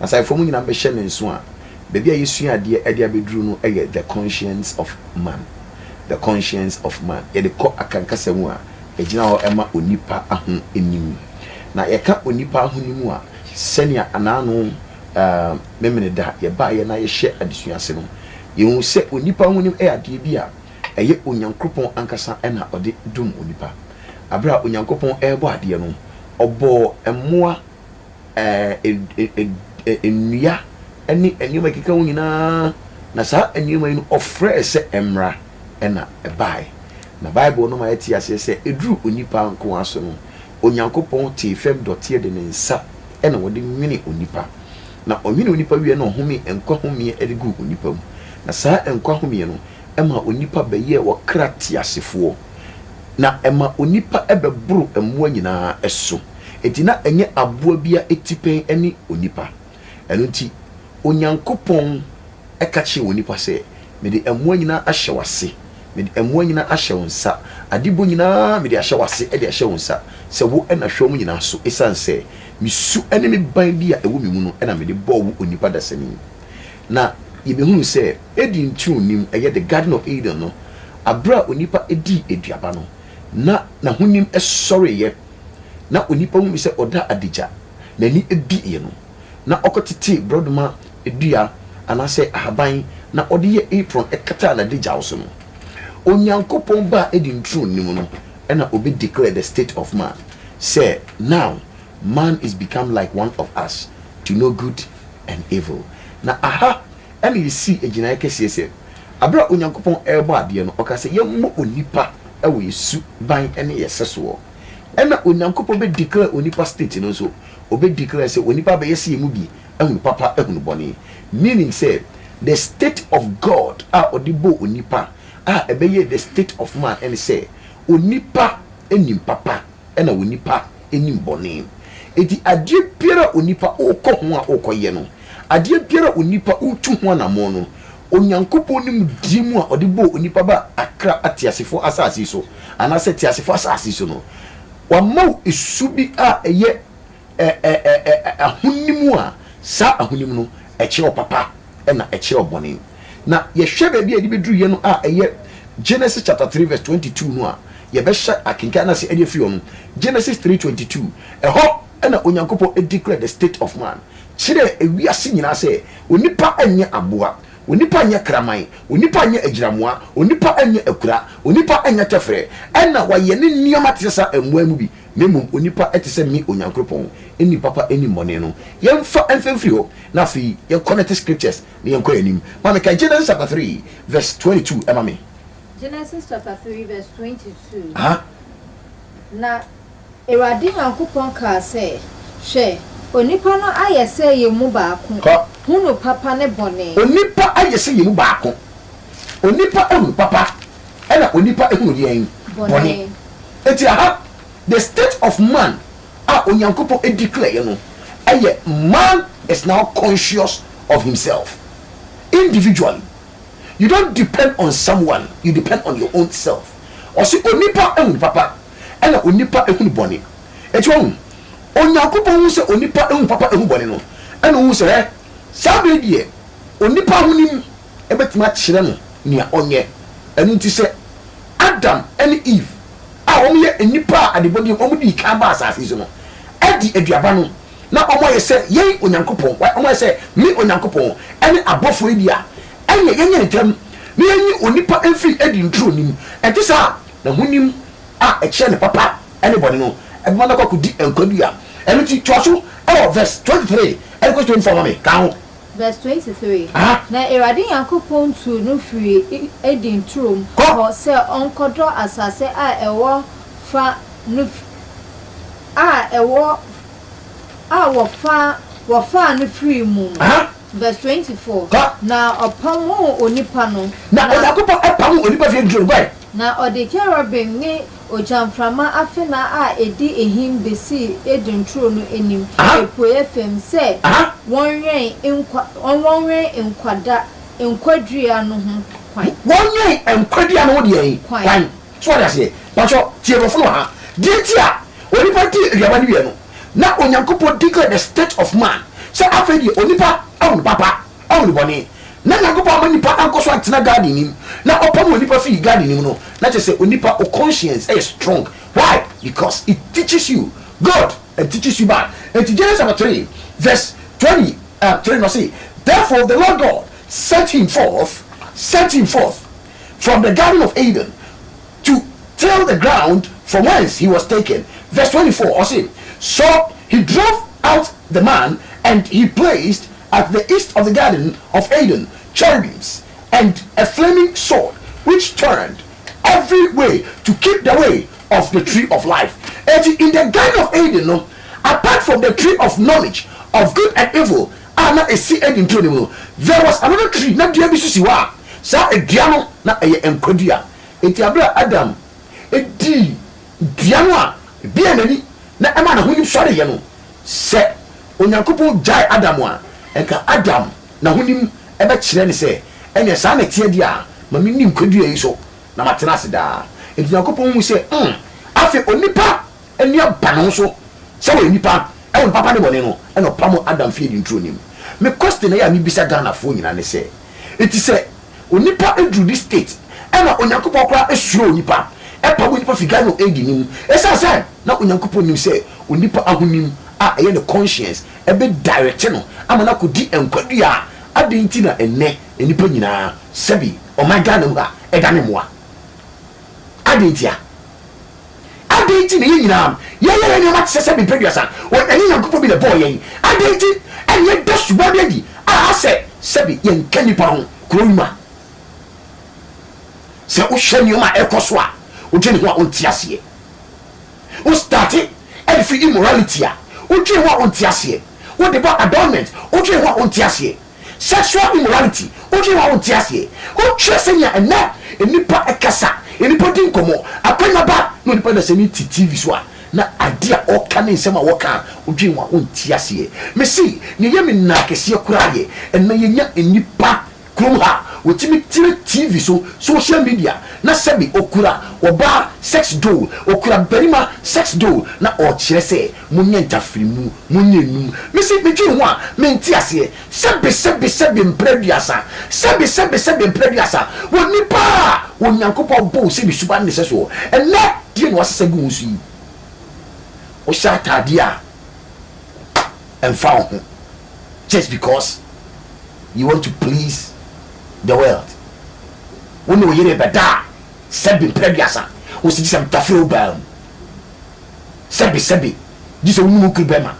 Asaefoɔ mu nyinaa bɛhyɛ ne nso a, baabi a yɛsua adeɛ de abɛduru no yɛ The Conscience of Man. The Conscience of Man. Yɛde kɔ Akankasa mu a, ɛgyina hɔ ma onipa ahonim. Na yɛka onipa ahonim a, sɛnea anaano Memeneda yɛbaeɛ na yɛhyɛ adesua ase no, yɛhu sɛ onipa ahonim yɛ adeɛ bi a ɛyɛ Onyankopɔn ankasa na ɔde dom onipa. Berɛ a Onyankopɔn rebɔ adeɛ no, ɔbɔɔ mmoa ɛɛ nnua ne nneɛma a ɛkeka ho nyinaa, na saa nneɛma yi no ɔfrɛɛ sɛ ɛmmra, ɛnna ɛbae. Na Bible no ma yɛte aseɛ sɛ ɛduruu onipa nko ara so no, Onyankopɔn tee fam dɔteɛ de ne nsa na ɔde nwenee onipa. Na ɔnwenee onipa wieeɛ na ɔhomee nkwa homeɛ de guu onipa mu, na saa nkwa homeɛ no maa onipa bɛyɛɛ ɔkra teasefoɔ. na ɛma onipa bɛboro mmoa nyinaa so. Enti na ɛnyɛ aboa biara atipɛn ne onipa. Ɛno nti, Onyankopɔn ka kyerɛɛ onipa sɛ, Mede mmoa nyinaa ahyɛ w'ase, mede mmoa nyinaa ahyɛ wo nsa, adebɔ nyinaa mede ahyɛ w'ase de ahyɛ wo nsa sɛ wo na hwɛ wɔn nyinaa so, esiane sɛ me su ne me ban bi a ɛwɔ me mu no na mede bɔɔ wo onipa dasani. Na yebehuu sɛ Eden ntuo nnim, ɛyɛ The Garden of Eden no, bere a onipa dii aduaba no, na n'ahonim sɔreeɛ, na onipa hunuu sɛ ɔda adagya, n'ani bueeɛ no, na ɔkɔtetee borɔdoma dua anaasɛ ahaban na ɔde yɛɛ apron kataa n'adagyaw so no. Onyankopɔn baa Eden ntuo no mu no na ɔbɛ declare the state of man sɛ, Now man is become like one of us, to know good and evil. Na aha na yesii agyinae kɛseɛ sɛ, berɛ a Onyankopɔn rebɔ adeɛ no, ɔkaa sɛ yɛmmɔ onipa wɔ yɛn su ban ne yɛn sɛsoɔ. Ɛna Onyankopɔn bɛ declare onipa state no nso, ɔbɛ declare sɛ onipa bɛyɛ sɛ yɛn mu bi, ahunu papa, ahunu bɔne. Meaning sɛ, the state of God a ɔde bɔɔ onipa a ɛbɛyɛɛ the state of man ne sɛ, onipa nim papa, na onipa nim bɔne. Enti adeɛ biara a onipa rekɔ ho a ɔrekɔyɛ no, adeɛ biara a onipa retu ho anammɔn no, Onyankopɔn nimdeɛ mu a ɔde bɔɔ onipa baa akra ateasefoɔ asase so, anaasɛ teasefoɔ asase so no, wama wo su bi a ɛyɛ ɛ ɛ ɛ ɛ ahonim a, saa ahonim no, ɛkyerɛ ɔpapa na ɛkyerɛ ɔbɔne. Na yɛhwɛ baabi a yɛde bɛduruiɛ no a ɛyɛ Genesis chapter three verse twenty two no a, yɛbɛhyɛ akenkan no ase de afiri hɔ no. Genesis three twenty two, ɛhɔ na Onyankopɔn declared the state of man, kyerɛɛ ewiase nyinaa sɛ onipa nyɛ aboa, onipa nyɛ kraman, onipa nyɛ agyiramoa, onipa nyɛ akura, onipa nyɛ tɛfrɛ, ɛna wɔayɛ ne nneɛma te sɛ saa mmoa yi mu bi. na mmom onipa te sɛ me Onyankropɔn nni papa nni mmɔne no yɛmfa mfa mfiri hɔ na afei yɛn connect scriptures na yɛn kɔ yɛn anim ma me kan Genesis chapter three verse twenty two ɛma me. Genesis chapter three verse twenty two. Aha. Na Awurade Nyankopɔn kaa sɛ, Hwɛ, onipa no ayɛ sɛ yɛn mu baako, Kɔ. hunu papa ne bɔne. Onipa ayɛ sɛ yɛn mu baako, onipa ahunu papa. ɛna onipa ehunu deɛn? Bɔne. Enti aha, the state of man a Onyankopɔn edeclare yɛ no ɛyɛ man is now conscious of himself individually, you don't depend on someone, you depend on your own self. Ɔse onipa ehunu papa ɛna onipa ehunu bɔne. Enti wahu, Onyankopɔn hu sɛ onipa ehunu papa ehunu bɔne no, ɛna ohuu sɛ hɛ, saa bere yi deɛ onipa ahonim, bɛtumi akyerɛ no nea ɔnyɛ. Ɛno nti sɛ Adam ne Eve a wɔyɛ nnipa a adebɔne wɔ mu, wɔn dii kan baa asase yi so no, adi aduaba no na wɔayɛ sɛ yɛn Onyankopɔn, wɔayɛ sɛ me Onyankopɔn ne abɔfoɔ yi de a, ɛnneɛ yɛnyɛ ntɛm na yɛnyi onipa mfiri Eden turo no mu. Ɛnte saa a, n'ahonim a ɛkyerɛ ne papa ne bɔne no bɛma no akɔ akɔdi nkwa dua. Ɛno nti toa so wɔ verse twenty three kɔsi twenty four ma me, ka ho. Verse twenty three, Aha! Na Awurade Nyankopɔn tuu no firii E, Eden turom Kɔ! hɔ sɛ ɔnkɔdɔ asase a ɛwɔ fã no f, a ɛwɔ f, a wɔfa, wɔfaa no firii mu no. Aha! Verse twenty four, Kɔ! Na ɔpamoo onipa no, Na na. Onyankopɔn pamoo onipa firii Eden turom kɔe. Na ɔde kerubim ne. Ogyaframa afenaa a edi ahim besii Eden turo no anim apuei fam sɛ wɔnwɛn nkwa, wɔnwɛn nkwada, nkwadua no ho kwan. Wɔnwɛn nkwadua no ho deɛ he kwan. So wate aseɛ? Patwɔ, tie borɔfo no wɔ ha. Deɛ nti a onipa dii aduaba no wie no, na Onyankopɔn declare the state of man, sɛ afei deɛ onipa ahu no papa. Ɔhu ne bɔne. Na Nyankopɔn ama nipa ankɔ so antena God anim, na ɔpam onipa fii God anim no, na kyerɛ sɛ onipa wo conscience yɛ strong. Why? Because it teaches you good and teaches you bad. Enti Genesis chapter three verse twenty three no se, Therefore the Lord God sent him forth, sent him forth from the garden of Eden to till the ground from whence he was taken. Verse twenty four, ɔse, So he drove out the man and he placed At the east of the garden of Eden, cherubims, and a flaming sword, which turned every way to keep the way of the tree of life. Enti, in the garden of Eden no, apart from the tree of knowledge of good and evil a na esi Eden turo no mu no, there was another tree, na dua bi nso si hɔ a saa dua no na ɛyɛ nkwa dua. Enti, bere a Adam dii dua no a ebia n'ani na ɛmaa n'ahonim sɔreeɛ no, Sɛ Onyankopɔn gyae Adam a, anka Adam n'ahonim bɛkyerɛ no sɛ, Ɛnneɛ saa na ɛteɛ deɛ a, ma menni nkwadua yi so, na matena ase daa. Enti Onyankopɔn hui sɛ, hmm, afei onipa ani aba ne ho so sɛ ɔyɛ nipa, ɛwɔ ne papa ne bɔne no, ɛnna ɔpamoo Adam fii adi nturo no mu. Me question a ɛyɛ a mebisa Ghanafoɔ nyinaa ne sɛ, Enti sɛ onipa duru ne state ɛna Onyankopɔn koraa suro onipa, ɛpam onipa fi Garden of Eden no mu, ɛsiane sɛ na Onyankopɔn nim sɛ onipa ahonim a ɛyɛ ne conscience bɛ direct no ama no akɔdi nkwa dua a adɛn nti na ɛnnɛ nnipa nyinaa sɛbi ɔman Ghana mu ha ɛdane mmoa? Adɛn ntia? Adɛn nti na yɛn nyinaa yɛyɛ yɛn nneɛma te sɛ sɛdeɛ mpeduasa wɔ ɛnyɛ Nyankopɔn bi na ɛbɔɔ yɛn? Adɛn nti na yɛda suban bi adi a asɛ sɛbe yɛnka nnipa ho kuro yi mu a sɛ wohwɛ nneɛma a ɛrekɔ so a wodwen ne ho a wonte aseɛ? Wo starte ɛde firi immorality a wodwen ho a wonte aseɛ, wode ba adornment wodwen ho a wonte aseɛ. sexual immorality, wodwen ho a wonte aseɛ, wokyerɛ sɛnea ɛnnɛ nnipa kasa, nnipa di nkɔmmɔ, akwanya ba, na onipa dasani te TV so a, na ade a ɔreka ne nsɛm a ɔreka a wodwen ho a wonte aseɛ. Mese, nea ɛyɛ me nnaa kɛseɛ koraa yɛ, ɛnnɛ yɛnya nnipa kurom ha a wɔtumi tena TV so, social media, na sɛbe ɔkura ɔbaa sex doll, ɔkura barima sex doll, na ɔrekyerɛ sɛ Monyɛ ntafirimu, monyɛ nnum. Me se, medwen ho a, mente aseɛ. Sɛbe, sɛbe, sɛbe mpra aduasa. Sɛbe, sɛbe, sɛbe mpra aduasa. Wɔ nnipa a Onyankopɔn boo sɛ ne suban ne sɛ soɔ, ɛnnɛ, deɛn na wasesa agu wo so yi? Wohyɛ ataadeɛ a, ɛmfa wo ho, just because you want to please the world. Wo ne wo yere rebɛda a, sɛbe mpra aduasa. Wo se, gye sɛ metafiri wo baa mu. Sɛbe sɛbe, gye sɛ wo ne wo kunu bɛma,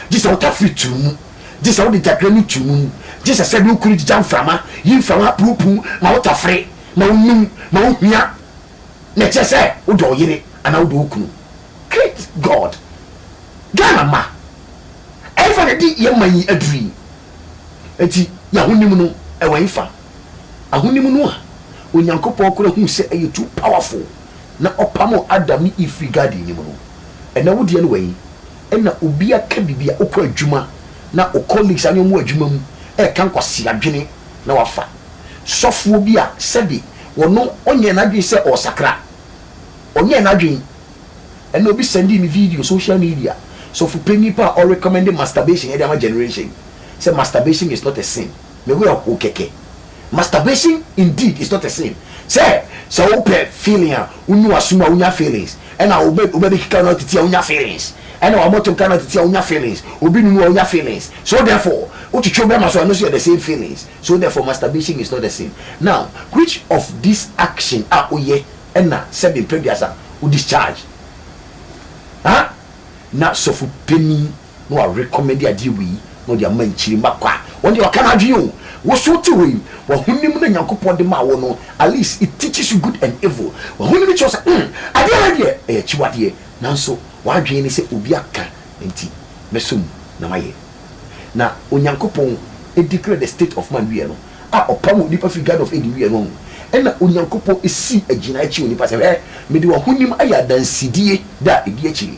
gye sɛ wo tafere tuw mu, gye sɛ wode gyagre no tuw mu, gye sɛ sɛbe wo kunu gyigya mframa, yi mframa apuwpuw ma wo tafere, ma wo num, ma wo hia, na ɛkyerɛ sɛ wodɔ wo yere anaa wodɔ wo kunu. Great God! Ghana mma, ɛhefa na ɛde yɛn man yi aduru yi? Enti y'ahonim no, ɛwɔ hefa? Ahonim no a Onyankopɔn kora hui sɛ ɛyɛ too powerful. na ɔpamoo Adam ne Eve firi garden no mu no, ɛnɛ wo deɛ no wɛn, ɛna obi aka biribi a wokɔ adwuma na wo colleagues a ne wɔn wɔ adwuma mu ɛreka nkwasea adwene na wafa sɔfoɔ bi a sɛbe ɔno ɔnyɛɛ n'adwene sɛ ɔresakra, ɔnyɛɛ n'adwene, ɛna obi sɛndee me video social media, sɔfo panin paa a ɔrecommend masturbation ɛde ama generation yi, sɛ masturbation is not a sin. Me werɛ how kɛkɛ. Masturbation indeed is not a sin. Sɛ sɛ wo pɛ feeling a wo nu w'asom a wo nya feelings, ɛna wo bɛ wo bɛ bɛkeka wo na wo titi a wo nya feelings, ɛna wa mɔto nka na wo titi a wo nya feelings, obi nunu a wo nya feelings, so therefore wo twetwe wo bɛrima so a ɛno nso yɛ the same feelings, so therefore masturbation is not a sin. Now which of this action a wo yɛ ɛna sɛbe mpɛ duasa wo discharge? Huh? Na sɔfo panin na wa recommend adeɛ wei na ɔde ama nkyiri mma kwa wɔn deɛ waka n'adwene o wo so te hɔ yi w'ahonim na Nyankopɔn de maa wo no at least it teaches you good and evil w'ahonim kyerɛ sɛ hmm adeɛ wei deɛ ɛyɛ akyiwadeɛ nanso w'adwene ne sɛ obi aka nti mɛsɔ mu na mayɛ na Onyankopɔn declare the state of man wieɛ no a ɔpam onipa firi Garden of Eden wieɛ no wahu ɛna Onyankopɔn si agyinaeɛ kyerɛ onipa sɛ hwɛ mede w'ahonim ayɛ adansedie da a ɛdi akyire.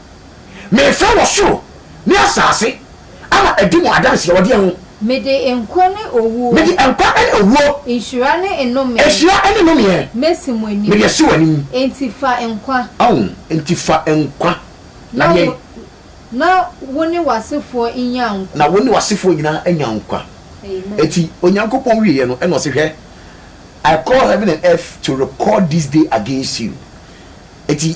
Merefrɛ wɔ soro ne asase ama adi mo adanseɛ wɔ deɛ ho? Mede nkwa ne owuo. Mede nkwa ne owuo. Nhyira ne nnome. Nhyira ne nnomeɛ. Masi mo anim. Mede asi w'anim. Enti fa nkwa. Ɔho, enti fa nkwa. Na deɛn? Na wo ne w'asefoɔ nnya nkwa. Na wo ne w'asefoɔ nyinaa anya nkwa. Amen. Enti Onyankopɔn wieɛ no, ɛna ɔse, Hwɛ, I call heaven and earth to record this day against you. Enti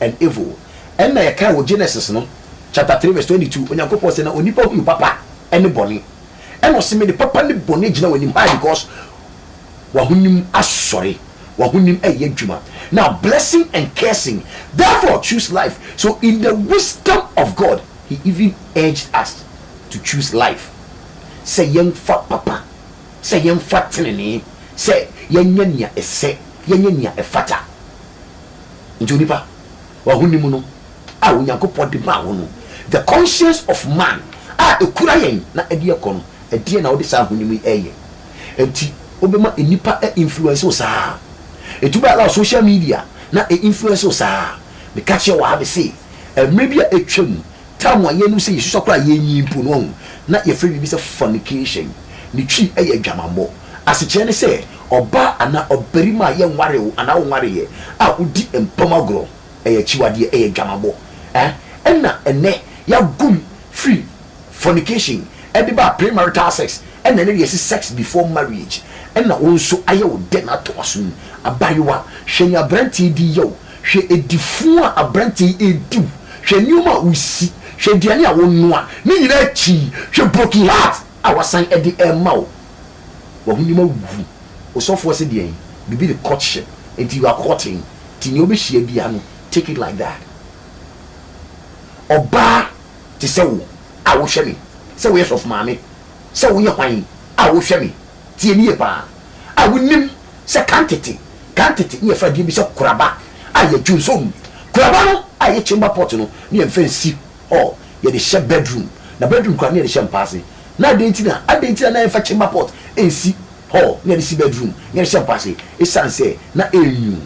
and evil. Ɛnna yɛkae wɔ Genesis no chapter three verse twenty two, Onyankopɔn se na onipa hunu papa ne bɔne. Ɛnna ɔse mede papa ne bɔne agyina w'anim. Why? Because w'ahonim asɔre, w'ahonim reyɛ adwuma. Now blessing and cursing, therefore choose life. So in the wisdom of God, He even urged us to choose life. Sɛ yɛmfa papa, sɛ yɛmfa tenenee, sɛ yɛnyɛ nea ɛsɛ, yɛnyɛ nea ɛfata. Enti onipa, w'ahonim no a Onyankopɔn de maa wo no, the conscience of man a ɛkura yɛn na ɛde yɛn kɔ no, ɛdeɛn na wode saa ahonim yi reyɛ? Enti wobɛma nnipa a influence wo saa? Enti wobɛ allow social media na ɛ influence wo saa? Meka kyerɛɛ wo aa me se, mmerɛ bi a atwam, Time a yɛnnom sɛ yɛsusua koraa a yɛnyin mpo no, wahu, na yɛfrɛ biribi sɛ fornication. Ne twi yɛ adwamammɔ. Asekyerɛ ne sɛ, ɔbaa anaa ɔbarima a yɛnwaree wo anaa wonwareeɛ a wodi mpam agorɔ. Ɛyɛ akyiwadeɛ, ɛyɛ adwamammɔ. Ɛɛ, ɛnna ɛnnɛ yɛagu mu firi fornication de baa premarital sex, ɛnna ɛnnɛ deɛ yɛse sex before marriage. Ɛnna wo nso ayɛ wo dɛ na atɔ w'asom. Abaayewa, hwɛ nea aberanteɛ di yɛ wo. Hwɛ adi fu a aberante yi redi wo. Hwɛ nneɛma a wusi. Hwɛ aduane a wonoa. Ne nyinaa akyi yi, hwɛ broken heart a wɔasan de rema wo. W'ahonim awu. Wo sɔfoɔ se deɛn? Biribi de courtship nti you are courting nti nea wobɛhyia biara no take it like that. Ɔbaa te sɛ wo a wohwɛ me sɛ woyɛ sɔfomaame, sɛ woyɛ hwan a wohwɛ me Tie no yie paa a wonim sɛ kantete, kantete, ne yɛfrɛ adeɛ bi sɛ koraba a yɛ dwonsong. Koraba no a ɛyɛ chamber pot no ne yɛmfa nsi hɔ, yɛde hyɛ bedroom, na bedroom koraa ne yɛde hyɛ mpa ase. Na adɛn nti na adɛn nti na na yɛmfa chamber pot nsi hɔ na yɛde si bedroom na yɛde hyɛ mpa ase? Ɛsiane sɛ na ɛyɛ nwunu.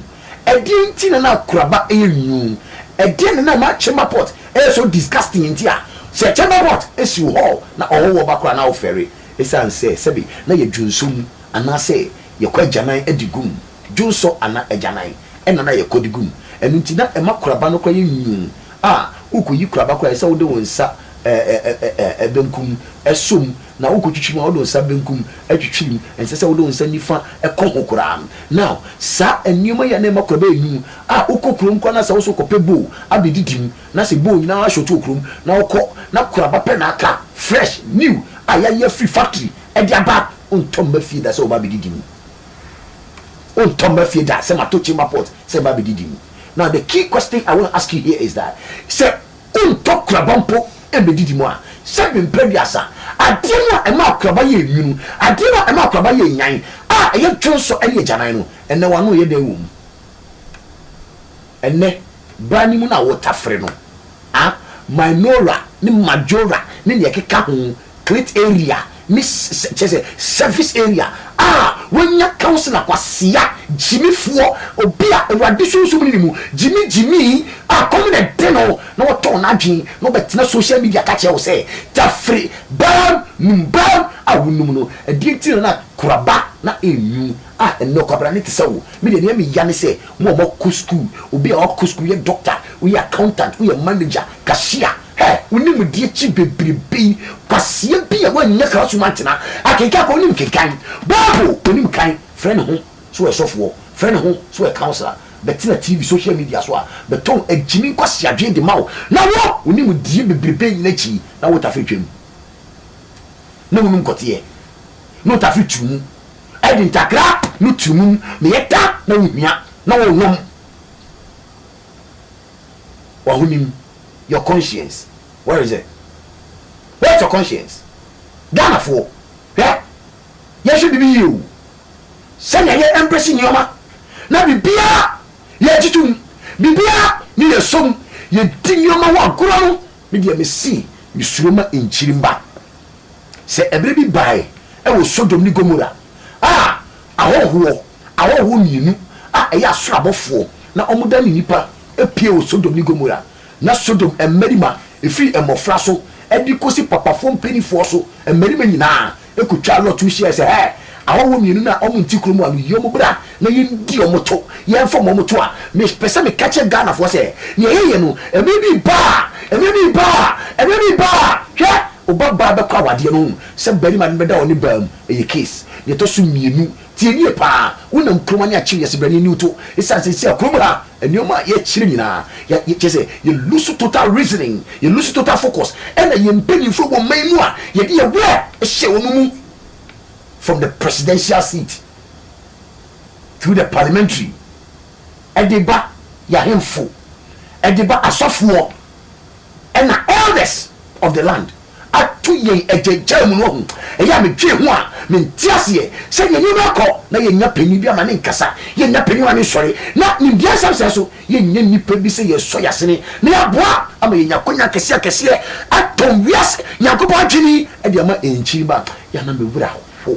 Ɛdeɛn nti na na koraba yɛ nwunu? Ɛdeɛn na na ɛma chamber pot yɛ so disgusting nti a sɛ chamber pot si wo hɔ na ɔhɔhoɔ ba koraa na wofɛre? Esiane sɛ sɛbe na yɛ dwonsɔ mu anaasɛ yɛkɔ agyanan de gu mu, dwonsɔ anaa agyanan na na yɛkɔ de gu mu, ɛno nti na ɛma koraba no koraa yɛ nwunwuu a worekɔyi koraba koraa ɛsɛ sɛ wode wo nsa ɛɛɛɛɛɛ benkum sɔ mu na worekɔtwitwi mu a wode wo nsa benkum twitwiri mu, ɛnsɛ sɛ wode wo nsa nifa kɔ ho koraa. Now saa nneɛma yi a na ɛma koraba yɛ nwunwuu a wokɔ kurom koraa no a sɛ wo nso wokɔpɛ bowl abɛdidi mu, na sɛ bone nyinaa short wɔ kurom na wokɔ na koraba pɛ na aka a, fresh, new, a yɛayi afiri factory de aba a, wontɔ mma fie da sɛ wɔba abɛdidi mu. Wontɔ mma fie da sɛ mato chamber pot sɛ ɛba abɛdidi mu. Now the key question I want to ask you here is that, sɛ wontɔ koraba mpo mmɛdidi mu a, sɛbe mprɛduasa, adeɛ no a ɛma akoraba yɛ nwunu, adeɛ no a ɛma akoraba yɛ nyan a ɛyɛ dwonsɔ ne agyanan no, ɛnnɛ w'ano yɛ dɛn wɔ mu? Ɛnnɛ, bra no mu no a wotafere no, ah, Minora ne Majora ne nea ɛkeka ho, clit area ne s-s kyerɛ sɛ, cervix area, ah, wanya counsellor kwasea, gyimifoɔ, obi a Awurade Sunsum no ne mu, gyimi gyimi, ah, kɔm na ɛde no na watɔn n'adwene na ɔbɛtena social media ka kyerɛ wo sɛ, tafere, bra no mu, bra no a wonum no, ɛdeɛ nti na na koraba na ɛnwu? Ah, ɛnnɛ ɔkwabrane te sɛ wo. Me deɛ nea meya ne sɛ mo a moakɔ sukuu, obi a wakɔ sukuu, woyɛ doctor, woyɛ accountant, woyɛ manager, cashier, hɛ! Wo nimdeɛ akyi bebrebe yi, kwasia bi a wannya classroom antena akenkan koraa, wonim kenkan Bible, wonim kan, frɛ ne ho sɛ ɔyɛ sɔfoɔ, frɛ ne ho sɛ ɔyɛ councillor, bɛtena TV, social media so a bɛtɔn agyimi nkwaseadwene de ma wo, na wo, wo nimdeɛ bebrebe yi nyinaa akyi na wotafere twam, na wonom kɔteɛ, na wotafere tu mu. Ɛde ntakra no tiri mum na yɛda na wohia na wɔnom w'ahonim your conscience where is it where is your conscience Ghanafoɔ hwɛ yɛnhwɛ biribi yie o sɛnea yɛ embrace nneɛma na biribiara yɛgye tom biribiara ne yɛ som yɛdi nneɛma ho agorɔ no me deɛ mese mesuro ma nkyiri mma. Sɛ ɛberɛ bi bae wɔ Sodom ne Gomora a ahɔhoɔ ahɔhoɔ mmienu a ɛyɛ asoro abɔfoɔ na wɔn dane nnipa pue wɔ Sodom ne Gomora, na Sodom mmarima, ɛfiri mmɔfra so de kɔsi papafoɔ mpaninfoɔ so mmarima nyinaa kɔtwaa Lot ho hyiaɛ sɛ, Hɛ! Ahɔhoɔ mmienu no a wɔn nte kuro mu a no yi wɔn bra, na yɛndi wɔn to, yɛmfam wɔn to a, mepɛ sɛ meka kyerɛ Ghanafoɔ sɛ, deɛ yɛyɛ no, mmerɛ bi reba a, mmerɛ bi reba a, mmerɛ bi reba a, hwɛ, wo ba baa bɛkɔ awadeɛ no, wohu sɛ barima no bɛda ɔne baa mu, ɛyɛ case. Deɛ ɛtɔ so mmienu, tie nie pa ara, wonam kurom ha ne akyiri yɛse brane nni wo to, ɛsiane sɛ seesei a kurom ha, nneɛma a yɛkyerɛ nyinaa, yɛ, yɛ, kyerɛ sɛ yɛ lose total reasoning, yɛ lose total focus, ɛna yɛn mpanimfoɔ wɔ man mu a, yɛde yɛn werɛ hyɛ wɔn mu from the presidential seat. through the parliamentary ɛde ba y'ahemfo ɛde ba asɔfoɔ ɛna elders of the land ato yɛn agyagyaa mu no wahu ɛyɛ a medwee ho a mente aseɛ sɛ deɛ nneɛma ɛkɔ na yɛnya panin bi ama ne nkasa yɛnya panin ama ne nsɔre na nimdeɛ nsɛm sɛ so yɛnya nnipa bi sɛ yɛsɔ yɛasene na yɛaboa ama yɛnya akwanya akɛseɛ akɛseɛ atɔn wiase nyankopɔn adwene ɛde ama ɛnkyiri ba yɛana mewura ho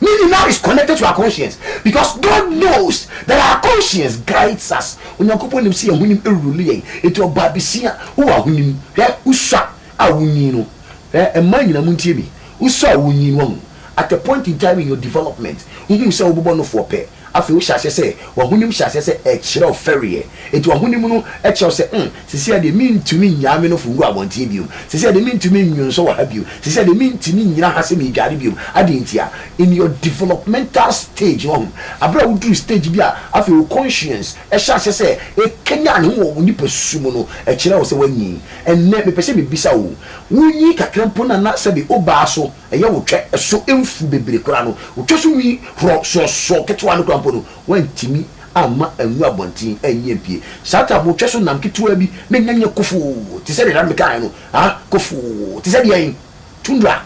Ne nyinaa is connected to our conscience because God knows that our conscience guides us. Onyankopɔn nim sɛ yɛn ahonim rule yɛn. Enti ɔbɔ abesia, wowɔ ahonim. Hwɛ, wosua a wunyin no, hwɛ, mmaa nyinaa muntie me, wosua a wunyin no, wahu, at a point in time in your development, wuhuu sɛ wobobɔ no foɔ pɛ, Afei wohyɛ aseɛ sɛ w'ahonim hyɛ aseɛ sɛ ɛkyerɛ wo fɛreɛ. Enti w'ahonim no kyerɛ wo sɛ, hmm, seesei ara deɛ mentumi nnyaa me nofo ngu abɔnten bio. Seesei ara deɛ mentumi nnwonsɔ wɔ ha bio. Seesei ara deɛ mentumi nnyina ha sɛ meredware bio. Adɛn ntia? In your developmental stage, wahu, berɛ a woduru stage bi a afei wo conscience hyɛ aseɛ sɛ ɛkanyan ne ho wɔ wo nipasu mu no, ɛkyerɛ wo sɛ woanyin. Ɛnnɛ mepɛ sɛ mebisa wo, wonyin kakra mpo no anaa sɛbe wobaa so? Ɛyɛ wo twɛ so mfuw bebree koraa no, wo twɛ so nwi horɔ soɔsoɔ ketewa no koraa mpo no, woantumi amma angu abɔnten anyi ampue. Saa tam wo twɛ so nam ketewaa bi na anya nyɛ kofoo te sɛ deɛ na mekaeɛ no, ah, kofoo te sɛ deɛn? Tundra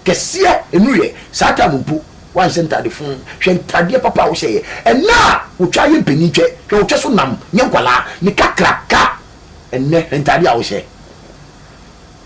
kɛseɛ nnuruiɛ. Saa tam mpo, woanhyɛ ntade fuu. Hwɛ ntadeɛ papa a wohyɛeɛ ɛnnɛ a wotwa ayɛ mpanin twɛ, hwɛ wo twɛ so nam nyɛ nkwadaa ne kakraka ɛnnɛ, hwɛ ntadeɛ a wohyɛ.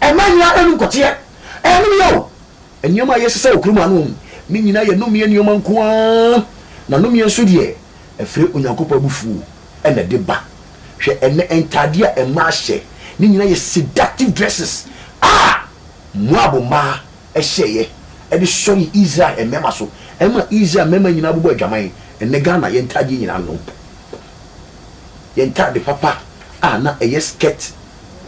Ɛma nea ɛyɛ no nkɔteɛ. Ɛyɛ no mia o. Nneɛma a ɛyɛ sesa wɔ kurom ha no, ne nyinaa yɛ nnommeɛ nneɛma nko ara. Na nnommeɛ nso deɛ, ɛfiri Onyankopɔn abufuo na ɛde ba. Hwɛ ɛnnɛ ntaadeɛ a mmaa hyɛ, ne nyinaa yɛ seductive dresses a Moab mmaa hyɛeɛ de sɔree Israel mmarima so, ɛma Israel mmarima nyinaa bobɔɔ adwaman. Ɛnnɛ Ghana, yɛn ntaadeɛ nyinaa no, yɛn ntade papa a na ɛyɛ skirt,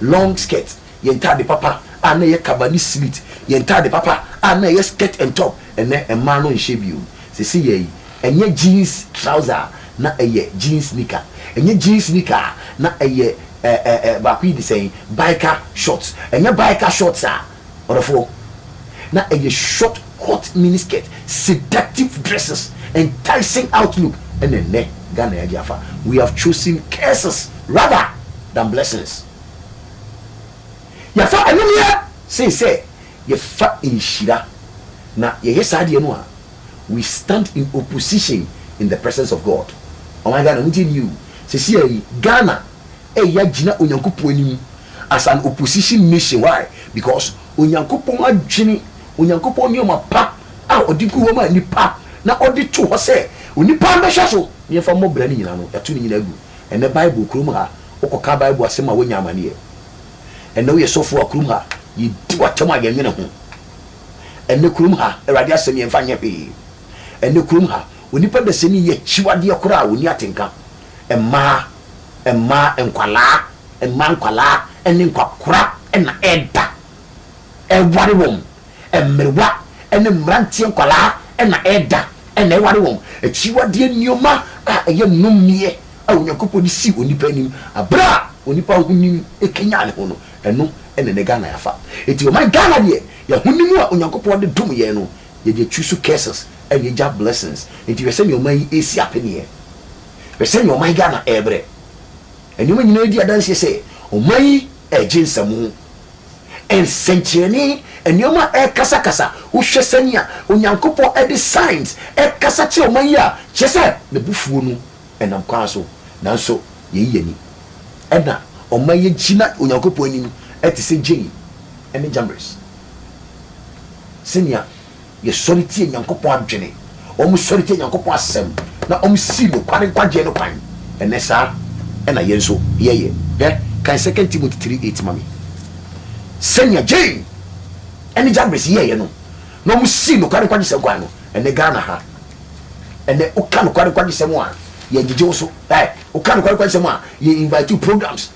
long skirt, yɛn ntade papa a na ɛyɛ kaba ne slit, yɛn ntade papa a na ɛyɛ skirt and top. Ɛnnɛ mmaa no nhyɛ bio. Seseiɛ yi, ɛnyɛ jeans trouser a, na ɛyɛ jeans knicker. Ɛnyɛ jeans knicker a, na ɛyɛ ɛɛ ɛɛ baako yi de sɛn, biker shorts. Ɛnyɛ biker shorts a, Ɔdɔfoɔ, na ɛyɛ short hot mini skirt, seductive dresses, enticing outlook ɛna ɛnnɛ Ghana yɛagye afa. We have chosen curses rather than blessings. Yɛafa anomeɛ sen sɛ yɛfa nhyira. Na yɛyɛ saa deɛ no a, we stand in opposition in the presence of God. Ɔman Ghana, montie nie o, seesei ara yi Ghana Ɛyɛ ya gyina Onyankopɔn anim as an opposition nation, why? Because Onyankopɔn adwene, Onyankopɔn nneɛma pa a ɔde gu hɔ ma nnipa na ɔde to hɔ sɛ onipa mmɛhwɛ so na yɛmfa mmɔ bra no nyinaa no, yɛato ne nyinaa gu. Ɛnnɛ Bible kurom ha, wokɔka Bible asɛm a woanya amanneɛ. Ɛnnɛ woyɛ sɔfo a kurom ha, yɛdi w'atɛm a yɛnwene ho. Ɛnnɛ kurom ha, Awurade asɛm yɛmfa nyɛ hwee. Ɛnnɛ kurom ha, onipa dasani yɛ akyiwadeɛ koraa a ɔnni atenka. mmaa, mmaa nkwadaa, mmaa nkwadaa ne nkwakora na ɛreda, ɛreware wɔn, mmerewa ne mmeranteɛ nkwadaa na ɛreda na ɛreware wɔn. Akyiwadeɛ nneɛma a ɛyɛ nnɔmmeɛ a Onyankopɔn de sii onipa anim berɛ a onipa ahonim kanyan ne ho no, ɛno na ɛnnɛ Ghana yɛafa. Enti ɔman Ghana deɛ, yɛn ahonim a Onyankopɔn de dom yɛn no, Yɛde choose curses na yɛgya blessings. Nti hwɛ sɛnea ɔman yi resi apeneɛ. Hwɛ sɛnea ɔman Ghana rebrɛ. Nneɛma nyinaa di adanseɛ sɛ ɔman yi regye nsamu. Nsɛnkyerɛnne, nneɛma a ɛrekasakasa, wohwɛ sɛnea Onyankopɔn de signs rekasa kyerɛ ɔman yi a, kyerɛ sɛ n'abufuo no nam kwan so. Nanso yei yɛ ni. Ɛna ɔman yi agyina Onyankopɔn anim te sɛ Jane ne Jambres. Sɛnea yɛsɔre tia Nyankopɔn adwene, wɔsɔre tia Nyankopɔn asɛm, na wɔsi nokware nkwagyeɛ no kwan ɛnnɛ, saa ara na yɛn nso yɛyɛ. Hwɛ, kan Second Timothy three eight ma me. Sɛnea Jane ne Jagris yɛeɛ no, na wɔsii nokware nkwagyesɛm kwan no. Ɛnnɛ Ghana ha, ɛnnɛ woka nokware nkwagyesɛm a, yɛngyegye wo so. Ɛ, woka nokware nkwagyesɛm a, yɛ invite wo programs.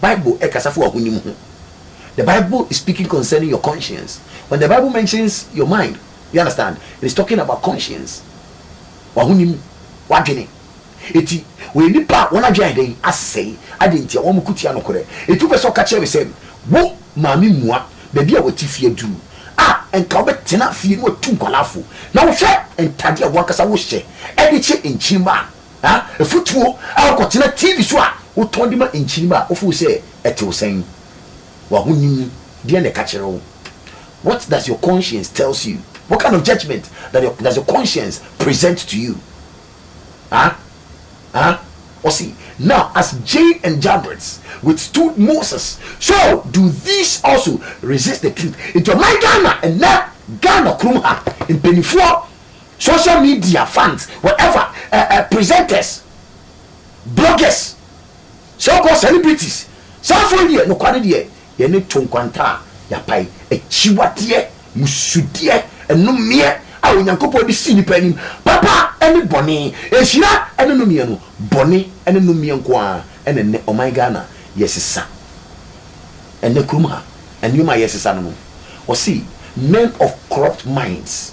Bible rekasa fa w'ahonim ho. The Bible is speaking concerning your conscience. When the Bible mentions your mind, you understand, it is talking about conscience. W'ahonim, w'adwene. Enti, wɔyɛ nnipa a wɔn adwene ayɛ dɛn? Asɛe. Adɛn ntia? Wɔko tia nokorɛ. Enti wopɛ sɛ ɔka kyerɛ me sɛ, wo maame mua baabi a wate fie aduru a, anka wobɛtena fie na watu nkwadaa fo. Na wohwɛ ntadeɛ a w'ankasa wohyɛ de kye nkyirimma a, Afotuo a Kɔtena TV so a wotɔn de ma nkyirimma a wofow sɛ ɛte wo sɛn? W'ahonim deɛn na ɛka kyerɛ wo? What does your conscience tells you? What kind of judgement does your, does your conscience present to you? Ah, ah, ɔse, Now as Jane and Jambres withstood Moses, so do these also resist the truth. Nti ɔman Ghana, ɛnnɛ Ghana kurom ha, mpaninfoɔ, Social media fans whatever eh eh presenters, bloggers, so called celebrities saa foɔ yi deɛ nokware deɛ yɛne to nkwanta a yɛapae, akyiwadeɛ, mmusudeɛ, nnomeɛ a Onyankopɔn de si nnipa anim, papa ne bɔne, nhyira ne nnomeɛ no, bɔne ne nnomeɛ nko ara na ɛnnɛ ɔman Ghana yɛsesa. Ɛnnɛ kurom ha nneɛma a yɛsesa no no wɔse men of corrupt minds.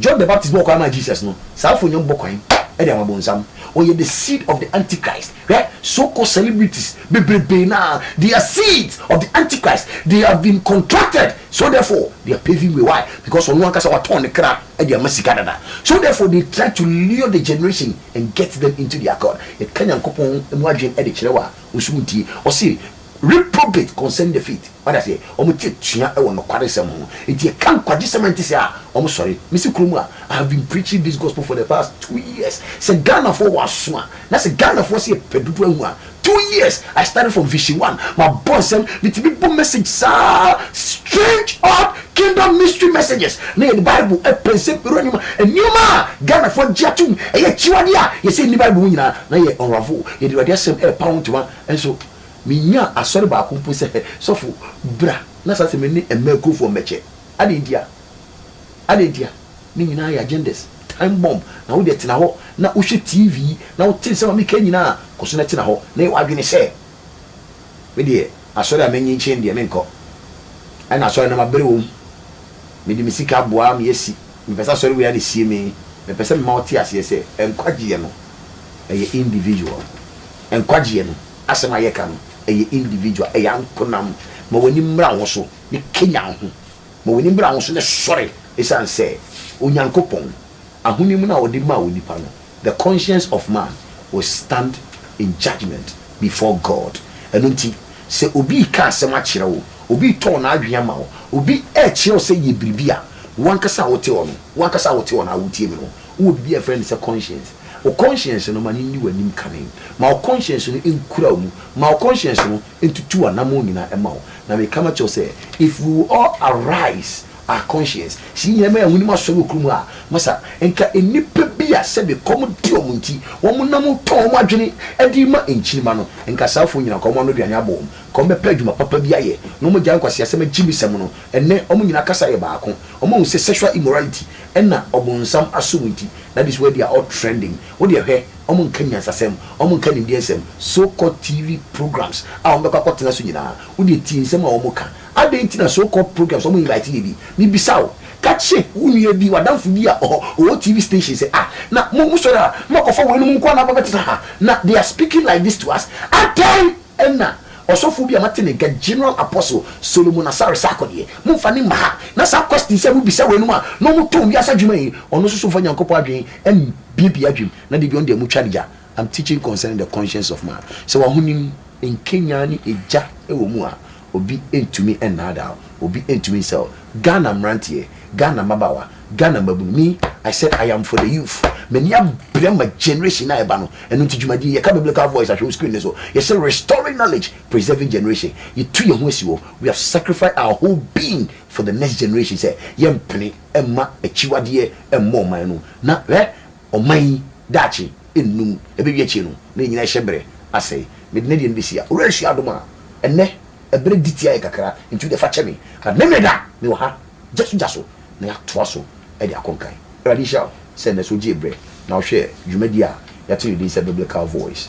John the Baptist bɔɔ kwan maa Jesus no, saafo nnya mbɔ kwan de ama bonsam. Ɔyɛ the seed of the antichrist. Hwɛ, so called celebrities bebrebe no ara, they are seeds of the antichrist, they have been contracted, so therefore they are paving way, why? Because ɔno ankasa watɔn ne kra de ama sika dada, so therefore they try to lure the generation and get them into their cult. Yɛka Nyankopɔn mu adwene de kyerɛ wo a, wo nso wontie. Ɔse, Reprobate concerning the faith, wate aseɛ, wɔn ti atua wɔ nokwaresɛm ho, enti ɛka nkwagyesɛm a ɛnte saa a, wɔsɔre. Mesi kurom a, I have been preaching this gospel for the past two years, sɛ Ghanafoɔ wɔ aso a, na sɛ Ghanafoɔ sɛ yɛpɛ dodo ahu a, two years, I started from Vision One, mabɔ nsɛm, metumi bɔ message saa, strange, odd, kingdom mystery messages, na yɛde Bible apɛ nsɛm pii, nneɛma, nneɛma a Ghanafoɔ gye atom, ɛyɛ akyiwadeɛ a yɛsɛ ɛnni Bible mu nyinaa, na yɛ unravel, yɛde Awurade Asɛm ɛrepa ho ntoma nso. Minnyaa asɔre baako mpo sɛ, Hɛ, sɔfo, bra na saa asɛm yi ne mmaa akurofoɔ mmɛkyɛ. Adɛn ntia? Adɛn ntia? Ne nyinaa yɛ agendas, time bomb. Na wo deɛ tena hɔ na wohwɛ TV na wote nsɛm a meka nyinaa, kɔ so na tena hɔ na yɛ w'adwene sɛ, Me deɛ, asɔre a m'enyi nkye no deɛ, menkɔ. Ɛna asɔre no mabere wom. Mede me sika aboa me asi. Mepɛ sɛ asɔre wei ara na esie me. Mepɛ sɛ mema wote aseɛ sɛ, nkwagyeɛ no, ɛyɛ individual. Nkwagyeɛ no asɛm a yɛka no ɛyɛ individual, ɛyɛ ankonam. Ma w'ani mmra wo so ne kanya wo ho. Ma w'ani mmra wo so ne sɔre ɛsiane sɛ Onyankopɔn ahonim no a ɔde maa onipa no, the conscience of man will stand in judgement before God. Ɛno nti sɛ obi reka asɛm akyerɛ wo, obi retɔn n'adwene ama wo, obi rekyerɛ wo sɛ yɛ biribi a, wo ankasa a wote hɔ no, wo ankasa a wote hɔ no a wotie me no, wowɔ biribi a yɛfrɛ no sɛ conscience. Wo kɔnhyiɛnse no, ma no nni w'anim kane. Ma wo kɔnhyiɛnse no nkura wo mu. Ma wo kɔnhyiɛnse no ntutu w'anammɔn nyinaa mma wo. Na meka makyerɛ wo sɛ, If we will all arise our conscience, sɛ yɛn nyinaa ma yɛn ahonim asɔre wɔ koro mu a, masa, nka nnipa bi a sɛbe kɔm de wɔn nti, wɔnam tɔn wɔn adwene de rema nkyirimma no, nka saa afoɔ nyinaa, nka wɔn ano aduane abɔ wɔn, nka wɔbɛpɛ adwuma papa bi ayɛ, na wɔagyae nkwaseasɛm agyimisɛm no. Ɛnnɛ, wɔn nyinaa kasa yɛ baako. Wɔahu sɛ sexual immorality ɛna ɔbonsam asom nti na this word yi a ɔ trending wo deɛ hwɛ ɔmo nka nyansasɛm ɔmo nka nimdeɛ nsɛm so called TV programmes a ɔmo bɛkɔ akɔ tena so nyinaa wo deɛ tie nsɛm a ɔmo ka adɛn nti na so called programmes ɔmo invite yɛ bi me bisa wo ka kye wo nua bi w'adamfo bi a ɔhɔ ɔwɔ TV station sɛ ah na mo mo sɔre a mo akɔfa wei nom nkoa na aba bɛtena ha na they are speaking like this to us adɛn Ɛnna ɔsɔfo bi a mate ne nka, General Apostle Solomon Asare Sarkodie, momfa no mma ha, na saa questions a mobisa weinom a na wɔtɔn wiase adwuma yi, ɔno nso so mfa Nyankopɔn adwene mbiebie adwenem, na da bi ɔno deɛ motwa no gya. I'm teaching concerning the conscience of man. Sɛ w'ahonim nkenyan ne egya wɔ mu a, Obi ntumi nnaadaa wo, obi ntumi nsɛe wo. Ghana mmeranteɛ, Ghana mmabaawa, Ghana mmabunu, me, I said I am for the youth. M'ani abre ma generation a ɛba no. Ɛno nti dwumadie yi, yɛka Biblical Voice ahwɛ wo screen no so, yɛse Restoring Knowledge, Preserving Generation. Yɛtu yɛn ho asi hɔ, we have sacrificed our whole being for the next generation sɛ yɛmpene mma akyiwadeɛ mmɔ ɔman no mu. Na hwɛ, Ɔman yi daakye nnum, ɛbɛwie akyire no na yɛn nyinaa hyɛ berɛ asɛe. Mede no deɛ no bɛsi a, Owura Nsuo adom a, ɛnnɛ ɛberɛ di tia yɛn kakra, nti wodeɛ fa kyɛ me, but me Meda, mewɔ ha, gya so gya so na yɛatoa so de akɔ nkan. Awurade nhyira wo sɛ ɛnnɛ nso wogyee berɛ na wohwɛɛ dwumadie a yɛato no din sɛ Biblical Voice.